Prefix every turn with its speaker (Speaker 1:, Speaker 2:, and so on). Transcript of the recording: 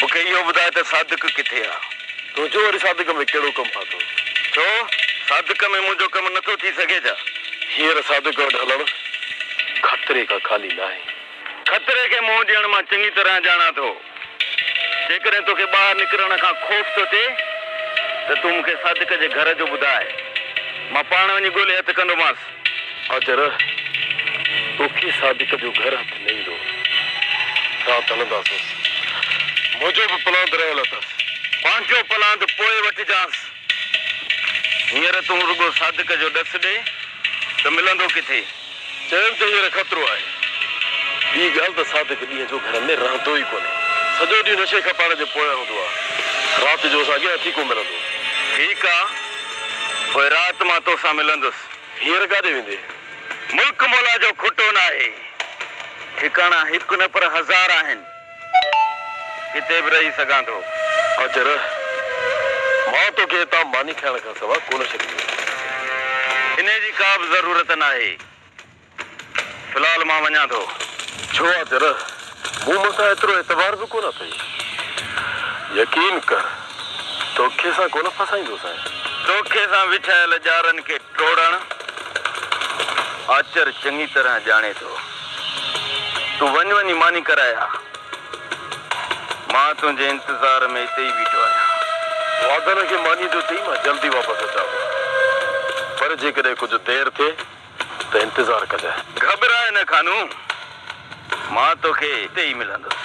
Speaker 1: مون کي اهو ٻڌاء ته صادق ڪٿي آ؟ تون چون وري صادق
Speaker 2: ۾ ڪهڙو ڪم ڦاٿو؟ ڇو
Speaker 1: صادق ۾ منهنجو ڪم نه ٿو ٿي سگهي ڇا؟ هينئر صادق
Speaker 2: وٽ هلڻ خطري کان خالي ناهي. خطري کي
Speaker 1: منهن ڏيڻ مان چڱي طرح ڄاڻان ٿو. جيڪڏهن توکي ٻاهر نڪرڻ کان خوف ٿو ٿئي ته تون مون کي صادق جي گهر جو ٻڌاء. مان پاڻ وڃي ڳولي هٿ ڪندومانس. آچر
Speaker 2: توکي صادق جو گهر هٿ نه ايندو. رات هلنداسس. منهنجو به پلاند رهيل اٿس. پنهنجو پلاند
Speaker 1: پوء وٺجانس. هينئر تون رڳو صادق جو ڏس ڏي ته ملندو ڪٿي. چيم ته هينئر
Speaker 2: خطرو آهي. ٻي ڳالهه ته صادق ڏينهن جو گهر ۾ رهندو ئي ڪونهي. سڄو ڏينهن نشي کان پاڻ جي پويان هوندو آهي. رات جو اسان کي هٿي ڪو ملندو. ٺيڪ آ.
Speaker 1: پوء رات مان توسان ملندس. هينئر ڪاڏي ويندي؟
Speaker 2: ملڪ مولا
Speaker 1: جو کٽو ناهي. ٺڪاڻا هڪ نه پر هزار آهن. ڪٿي به رهي سگهان ٿو. اچ رهه.
Speaker 2: مان توکي هتان ماني کائڻ کان سوا ڪونه ڇڏينديس.
Speaker 1: انهيء جي ڪابه ضرورت ناهي. في الحال مان وڃان ٿو. ڇو آ جرح،
Speaker 2: مون مٿان ايترو اعتبار به ڪونه اٿئي. يقين ڪر، توکي سان ڪونه ڦاسائيندوسانء. توکي سان
Speaker 1: وڇايل ڄارن کي ٽوڙڻ، آچر چڱي طرح ڄاڻي ٿو. تون وڃ وڃي ماني ڪرائي آ. مان تنهنجي انتظار ۾ اتي ئي بيٺو آهيان. واڌن کي مانيء
Speaker 2: ڏيو چئي مان جلدي واپس اچان ٿو. پر جيڪڏهن ڪجهه دير ٿئي ته انتظار ڪجانء.
Speaker 1: گهٻرائي نه خانو، مان توکي
Speaker 2: اتي
Speaker 1: ئي ملندس.